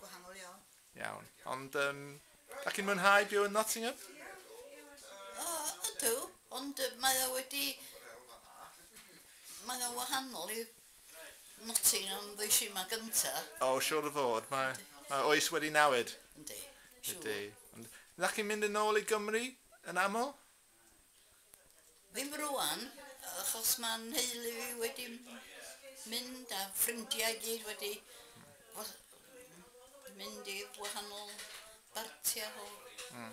Gwahanol iawn. Iawn. Ond um, da chi'n mwynhau byw yn Nottingham? O, ydw. Ond mae o wedi... Mae o wahanol i Nottingham ddys yma gynta. O, siwr o fod. Mae, mae oes wedi newid. Yndi. Ydy. Ond da chi'n mynd yn ôl i Gymru yn aml? Ddim rŵan, achos mae nheulu fi wedi mynd a ffrindiau i gyd wedi mynd i wahanol bartiau o hmm.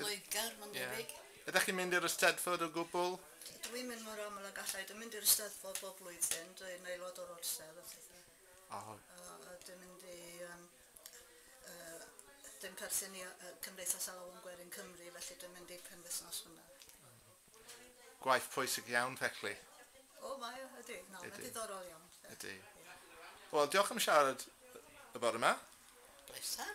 Loegr, mae'n debyg. Yeah. Ydych chi'n mynd i'r Eisteddfod o gwbl? Dwi'n mynd mor aml ag allai. Dwi'n mynd i'r Eisteddfod bob blwyddyn. Dwi'n aelod o'r orsedd a phethau. Oh. A, a dwi'n mynd i um, Yy dim perthyn i yy Cymdeithas Alawon Gwerin Cymru felly dwi'n mynd i'r penwythnos hwnna. Gwaith pwysig iawn felly. O mae o, ydy, na, mae'n ddiddorol iawn. Ydy. Wel, diolch am siarad y bore 'ma. Pleser.